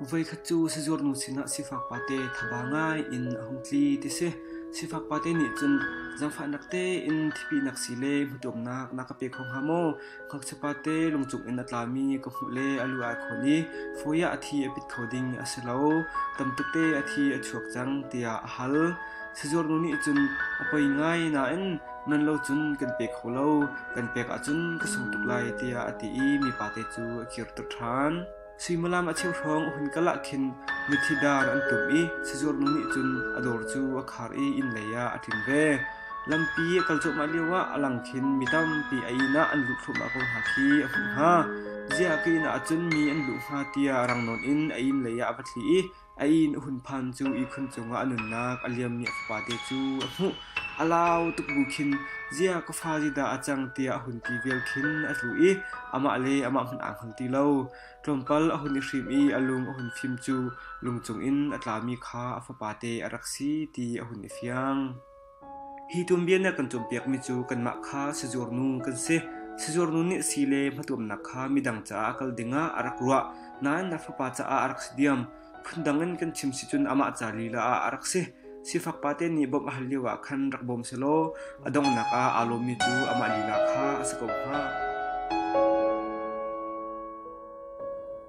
Voikhat cu sizurnu sinah sifak pate thaba ngai in a hung tli ti si. Sifak pate nih cun zangfahnak tein thipihnak si le hmuṭumnak na ka pe kho hnga maw? Ngakchia pate lungchung in a tlami ka hmuh le a lu ai khawn i fawi ah a thi a pit kho ding a si lo. Tamtete a thi a chuak cang tiah a hal. Sizurnu nih cun a poi ngai nain nan lo cun kan pek kho lo, kan pek ahcun ka sung tuk lai tiah a ti i mipate cu a kir tuk ṭhan. Suimilam a cheu hrawng a hun kal ah khin mithi dar an tum i sazuar nu nih cun a dawr cu a khar i innlei ah a ṭin ve. Lampi a kal cuahmah lioah a lang khin mi tampi a inn ah an luh thluahmah ko hna khi a hmuh hna. Ziah ka inn ahcun mi an luh hnga tiah rang nawn in a innlei ah a va thli i A inn a hun phan cu ihkhun cungah a nunnak a liammi a fapate cu a hmuh. A lau tuk bu khin “Ziah ka fa zi dah a cang?” tiah a hun ti vial khin a tlu i amah le amah hmanh aa hngal ti lo. Tlawmpal a hun i hrim i a lung a hun fim cu lung cungin a tlami kha a fapate a rak si ti a hun i fiang. Hi tuanbia na kan cawnpiakmi cu kanmah kha sizurnu kan si. Sizurnu nih a si le hmatuamnak kha midang caah a kal dingah a rak ruah. Nain na fapa caah a rak si diam. Phundang in kan chim si cun amah ca lila ah a rak si. Sifak pate nih bawmh a hal lio ah khan rak bawm selaw a donghnak ah aa lawmmi cu amah lila kha a si ko hnga.